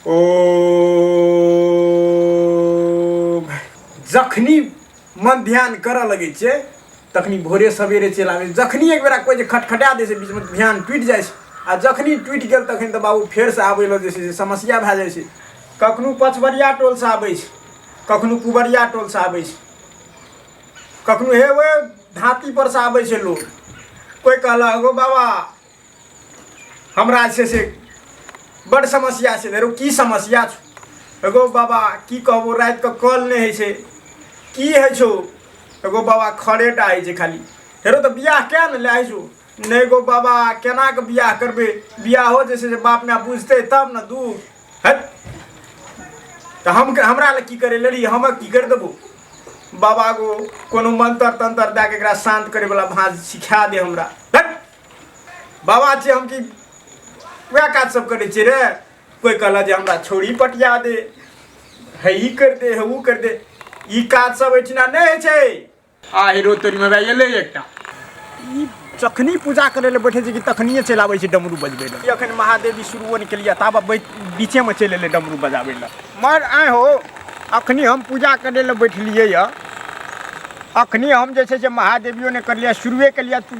ओ जखनी मध्यान करऽ लगै छै तखनी भोरे सवेरे चलि आबै जखनी एक बेरा कोइ जे खटखटा दै छै बीचमे ध्यान टूटि जाइ छै आ जखनी टूटि गेल तखन तऽ बाबू फेरसँ आबै लए जे छै से समस्या भए जाइ छै कखनो पचवरिया टोलसँ आबै छै कखनो कुबरिया टोलसँ आबै छै कखनो हे ओए धातीपर से आबै छै लोक कोइ कहलक ओ बाबा हमरा जे छै से बड समस्या छै धरो की समस्या छौ एगो बाबा की कहबो रातिके कॉल नहि होइ छै की होइ छौ एगो बाबा खड़ेटा होइ छै खाली हेरो तऽ बियाह किया ने लए छौ नहि गो बाबा केनाके बियाह करबै बियाहो जे छै से बाप माय बुझतै तब ने दू है तऽ हम हमरा लए की करै लड़ी हम की करि देबो बाबा गो कोनो मंत्र तंत्र दए कऽ एकरा शान्त करैवला भाँज सिखा दे हमरा बाबा छियै हम कि वएह काज सब करै छियै रे कोइ कहलक जे हमरा छोड़ी पटिया दे हे ई कर दे हे ओ कर दे ई काज सब एहिठिना नहि होइ छै आ हीरो तोरीमे भए गेलै एकटा ई जखनी पूजा करै लए बैठे छै कि तखनिए चलि आबै छै डमरू बजबै लए ई एखन महादेवी शुरुओ नहि केलियै ताब बीचेमे चलि एलै डमरू बजाबै लए मर आँय हो अखनी हम पूजा करै लए बैठलियै यऽ अखनी हम जे छै से महादेवियो नहि करलियै शुरुए केलियै तू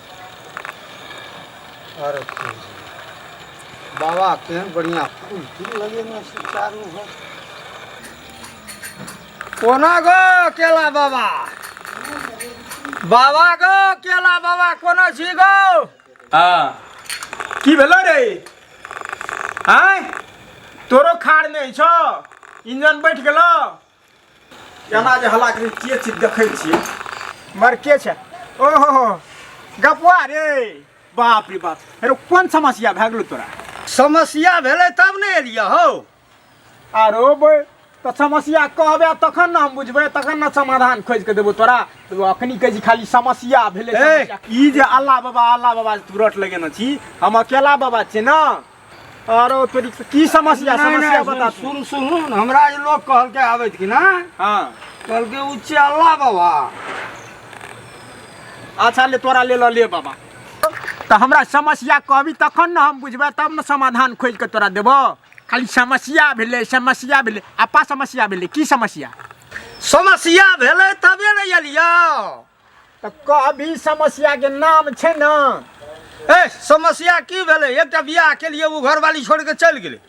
अरे बाबा केहन बढ़िया फूल फूल लगेने छै चारू घर कोना गो केला बाबा बाबा गो केला बाबा कोना छी गो हाँ की भेलो रे आय तोरो खाड़ नहीं छो इंजन बैठ गेलो केना जे हल्ला करै के चीज देखै छियै मर के छै ओहो गपुआ रे बाप रे बाप अरे कोन समस्या भए गेलो तोरा समस्या भेलै तब ने एलियै हौ आरो बे तऽ समस्या कहबे तखन ने हम बुझबै तखन ने समाधान खोजि कऽ देबो तोरा तू अखनी कहै छी खाली समस्या भेलै ए, समस्या। ई जे अल्लाह बाबा अल्लाह बाबा जे तू रट लगेने छी हम अकेला बाबा छियै ने अरे फिर की समस्या नहीं, समस्या नहीं, बता सुन तू सुन सुन हमरा ई लोग कहल के आवे कि ना हाँ कहल के उ चला बाबा अच्छा ले तोरा ले ला ले बाबा तो हमरा समस्या कहबी तखन ना हम बुझबै तब ने समाधान खोज के तोरा देबो खाली समस्या भेलै समस्या भेलै आपा समस्या भेलै की समस्या समस्या भेलै तबे ने एलियो तऽ कहबी समस्या के नाम छै ना ए समस्या की भेलै एकटा बियाह केलिए ओ घरवाली छोड़ के चलि गेलै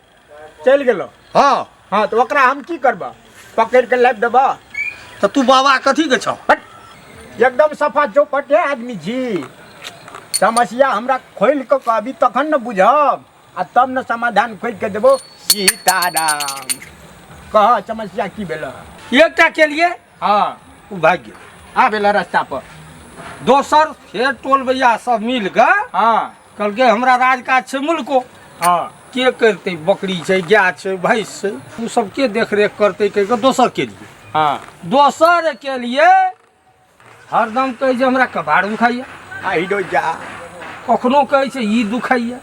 चलि गेलो हँ हाँ तऽ ओकरा हम की करबह पकड़ के लाबि देबह तऽ तू बाबा कथी के छौ हट एकदम सफा चौपट है आदमी जी समस्या हमरा खोल के कहबी तखन ने बुझब आ तब ने समाधान खोज के देबो सीताराम कह समस्या की भेल एकटा केलिए हँ ओ भागि गेल आब एला रास्ता पर दोसर फेर टोल भैया सब मिल कऽ हँ कहलकै हमरा राजकाज छै मुल्को हँ के करतै बकरी छै गाय छै भैंस छै ओ सब के देख रेख करतै कहि कऽ दोसर के लिए हँ दोसर के लिए हरदम कहै छै हमरा कबाड़ दुखाइए आइ डो जा कखनो कहै छै ई दुखाइए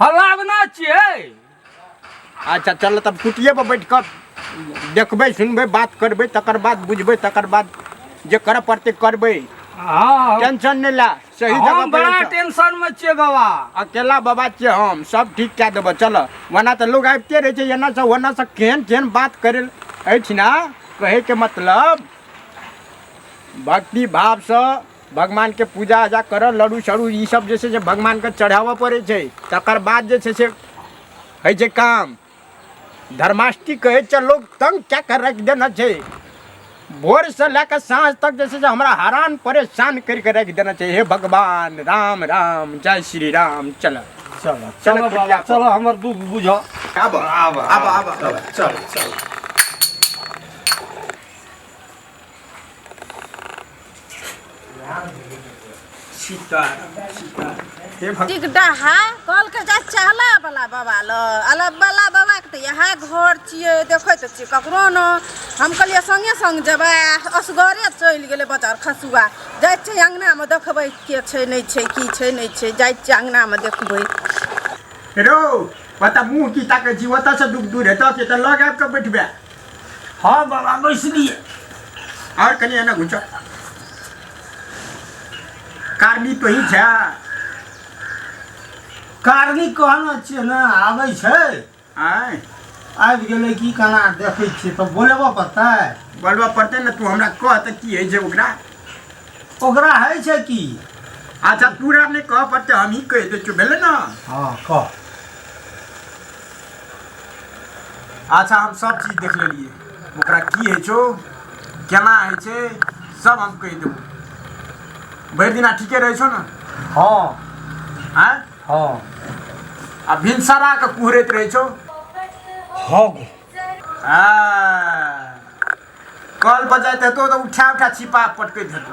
हलावना छियै अच्छा चल तब कुटिये पर बैठ कऽ देखबै सुनबै बात करबै तकर बाद बुझबै तकर बाद जे करऽ पड़तै करबै हँ टेंशन नहि ला सही हम जगह पर बड़ा बैठ। टेंशन में छियै बाबा अकेला बाबा छियै हम सब ठीक कए देबऽ चल वरना तऽ लोग आबिते रहै छै एना से ओना से केहन केहन बात करै अछि ने कहैके मतलब भक्ति भावसँ भगवानके पूजा आजा करऽ लड़ू सड़ू ई सब जे छै से भगवानके चढ़ाबऽ पड़ै छै तकर बाद जे छै से होइ छै काम धर्माष्टमी कहै छै लोक तंग कए कऽ राखि देने छै भोरसँ लए कऽ साँझ तक जे छै से हमरा हरान परेशान करि कऽ राखि देने छै हे भगवान राम राम जय श्री राम चल चल चल बाबा चल हमर दुख बुझ आब आब आब आब चल चल सीता सीता हे भगवान टिक डहा कल के जा चहला वाला बाबा ल अला वाला बाबा के त इएह घर छियै देखै त छियै ककरो न हम कहलियै संगे संग जेबै आ असगरे चलि गेलै बजार खसुआ जाइ छै अङ्गनामे देखबै के छै नहि छै की छै नहि छै जाइ छियै अङ्गनामे देखबै रो ओतऽ मुँह की ताकै छी ओतऽसँ दुख दूर हेतऽ से तऽ लग आबि कऽ बैठबै हाँ बाबा बैसलिए और कहीं एना घुच कारनी तो ही छा कारनी कहना चाहिए ना आवे छे आय आबि गेलै की केना देखै छियै तऽ बोलेबऽ पड़तै बोलबऽ पड़तै ने तू हमरा कह तऽ की होइ छै ओकरा ओकरा है छै की अच्छा पूरा नहि कह पड़तै हमही कहि दै छियौ भेलै ने हाँ कह अच्छा हम सब चीज देख लेलिए ओकरा की है छो केना है छे सब हम कह देबो भरि दिना ठीके रहे छो ना हाँ हाँ हाँ आ भिनसरा के कुहरैत रहे छो हाँ गो हाँ कल बजाइत हेतो तऽ उठा उठा छिपा पटकैत हेतो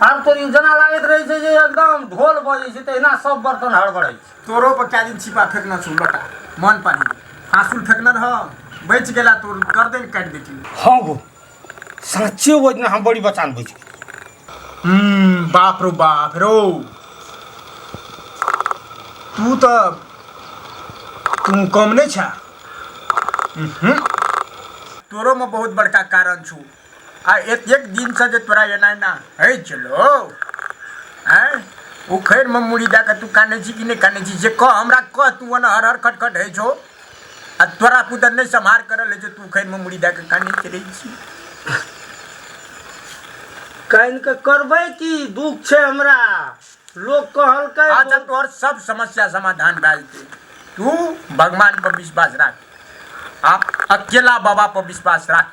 आब तो ई जेना लागैत रहै छै जे एकदम ढोल बजै छै तहिना सब बर्तन हड़बड़ै छै तोरो पर क्या दिन छिपा फेंकना छो लटा मन पानी फांसुल फेंकना रह बच गेला तोर गर्दन काट देती हाँ गो साचे वो इतना हम बड़ी बचान बच हम्म बाप रो बाप रो तू तो तू कम नहीं छा तोरो में बहुत बड़का कारण छू आ एक एक दिन से जे तोरा एना एना है चलो आय उखड़ में मुड़ी दे के तू काने छी कि नहीं काने छी जे कह हमरा कह तू ओना हर हर खटखट है छो आ तोरा पुतर नहीं संभार कर ले तू उखड़ में मुड़ी दे के काने चले छी कान के करबे की दुख छे हमरा लोग कहल के अच्छा तोहर सब समस्या समाधान भए जेतै तू भगवान पर विश्वास राख आ अकेला बाबा पर विश्वास राख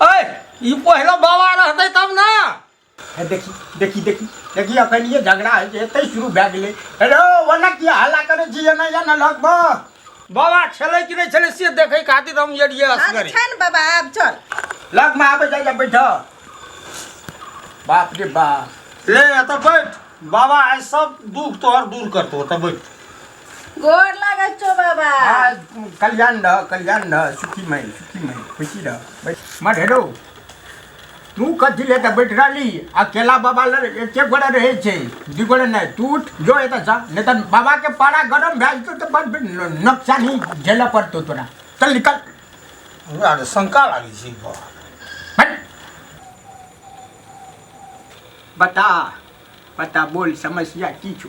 अरे ई पहलो बाबा रहते तब ना हे देखी देखी देखी देखी अखन ये झगड़ा है जे एतै शुरू भए गेलै हेलो वना की हल्ला करे छी एना या ना लगबो बाबा छलै कि नहीं छलै से देखे खातिर हम ये लिए आज असगरी छन बाबा आब चल लग में आबे जाय जा बैठ बाप रे बाप ले एतऽ बैठ बाबा आइ सब दुख तोहर दूर करतो एतऽ बैठ गोर लागै छौ बाबा आ कल्याण रह कल्याण रह सुखी माई सुखी माई खुशी रह बैठ मत हेरो तू कथी ले तऽ बैठ रहली अकेला बाबा लग एके गोड़े रहै छै दू गोड़े नहि तू उठ जो एतऽ जा नहि तऽ बाबाके पारा गरम भए जेतौ तऽ बड़ न- नोकसानी झेलऽ पड़तौ तोरा चल निकल हमरा तऽ शंका लागै छै बा हट। बता बता बोल समस्या की छौ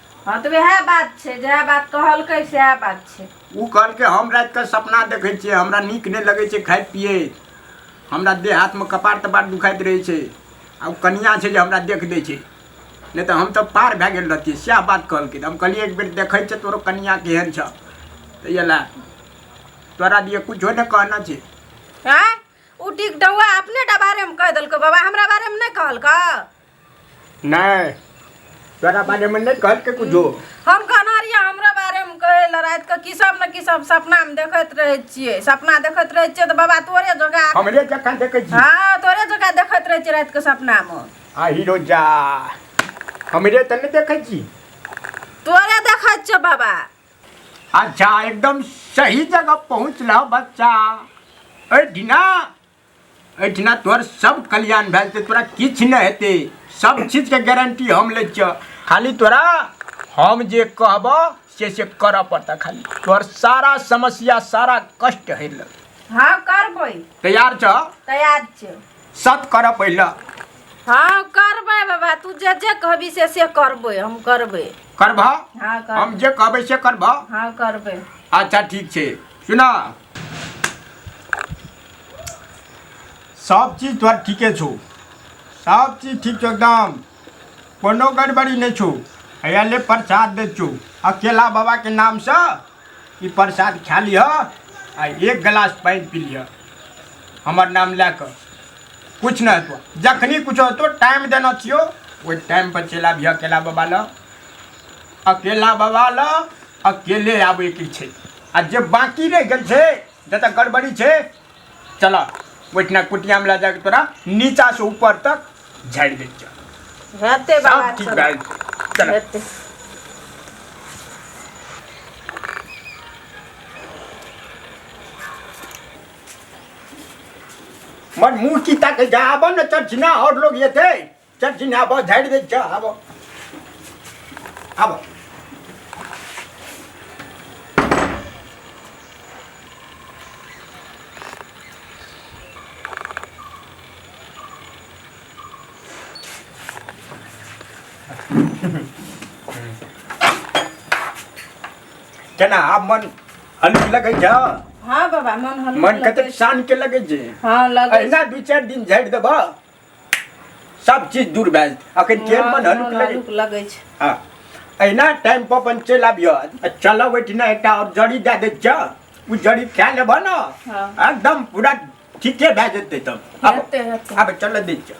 हँ तऽ वएह बात छै जएह बात कहलकै सएह बात छै ओ कहलकै हम रातिके सपना देखै छियै हमरा नीक नहि लगै छै खाइत पियैत हमरा देह हाथमे कपार तपार दुखाइत रहै छै आ ओ कनिया छै जे हमरा देख दै छै नहि तऽ हम तऽ पार भए गेल रहती सएह बात कहलकै हम कहलियै एक बेर देखै छै तोरो कनिया केहन छ तऽ इएह तोरा दिए किछो नहि कहना छै आँय ओ डिगडौआ अपने टा बारेमे कहि देलकै बाबा हमरा बारेमे नहि कहलकै नहीं तोरा बारे में नहीं कहल के कुछ हम कहना रहियै हमरा बारे में कहे ला रात के की सब न की सब सपना में देखत रहे छियै सपना देखत रहे छियै तो बाबा तोरे जगह हमरे जखन देखे छी हाँ तोरे जगह देखत रहे छियै रात के सपना में आ हीरो जा हमरे त नहीं देखे छी तोरे देखत छियै बाबा अच्छा एकदम सही जगह पहुँचला बच्चा ए ढीना एहिठिना तोहर सब कल्याण भए जेतै तोरा किछु नहि हेतै सब चीजके गारंटी हम लै छियह खाली तोरा हम जे कहबह से से करऽ पड़तह खाली तोहर सारा समस्या सारा कष्ट हरि लग हाँ करबै तैयार छह तैयार छै सत करऽ पहिले हाँ करबै बाबा तू जे जे कहबी से से करबै हम करबै करबह हाँ कर हम जे कहबै से करबह हाँ करबै अच्छा ठीक छै सुना सब चीज तोहर ठीके छौ सब चीज ठीक छौ एकदम कोनो गड़बड़ी नहि छौ हैया ले प्रसाद दै छौ अकेला बाबाके नामसँ ई प्रसाद खा लिह आ एक गिलास पानि पी लिह हमर नाम लए कऽ किछु नहि हेतौ जखनी किछो हेतौ टाइम देना छियौ ओहि टाइम पर चलि आबिह अकेला बाबा लग अकेला बाबा लग अकेले आबैके छै आ जे बाँकी रहि गेल छै जतऽ गड़बड़ी छै चल ओहिठिना कुटियामे लए जाके तोरा नीचासँ ऊपर तक झाड़ि दै चल हेतै बाबा ठीक भए चल हेतै मन मुंह की तक जा आबो न चल जिना और लोग ये थे चल चिन्ह आबो झाड़ि दै छ आबो आबो केना आब मन हल्की लगै छ हाँ बाबा मन हल्लुक मन लगै कतेक छै। शान के लगै छै हाँ लगै छै। अहिना दू चारि दिन झाड़ि देबह सब चीज दूर भए जेतै अखन हँ, ट्रेन बन हनुक लगै हनुक लगै छै हँ अहिना टाइम पर अपन चलि आबिह आ चलब ओहिठिना एकटा आओर जड़ी दए दै छ ओ जड़ी खा लेबह ने हँ। एकदम पूरा ठीके भए जेतै तब आब हेतै हेतै आब चलऽ दै छ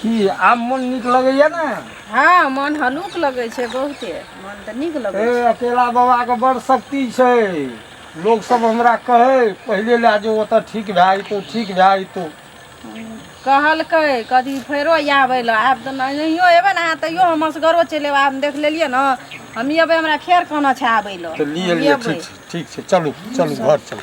की आब मन नीक लगैया ने हँ मन हलुक लगै छै बहुते मन तऽ नीक लगै हे छै अकेला बाबा के बड़ शक्ति छै लोग सब हमरा कहै पहिले लए जो ओतऽ ठीक भए जेतौ ठीक भए जेतौ कहलकै कथी फेरो आबै लए आब तऽ नहि- नहियो एबै ने अहाँ तैयो हम असगरो चलि एबै आब देख लेलियै ने हम एबै हमरा फेर कहना छै आबै लए तऽ लिए हम लिए एबै। ठीक छै ठीक छै चलू चलू घर चलू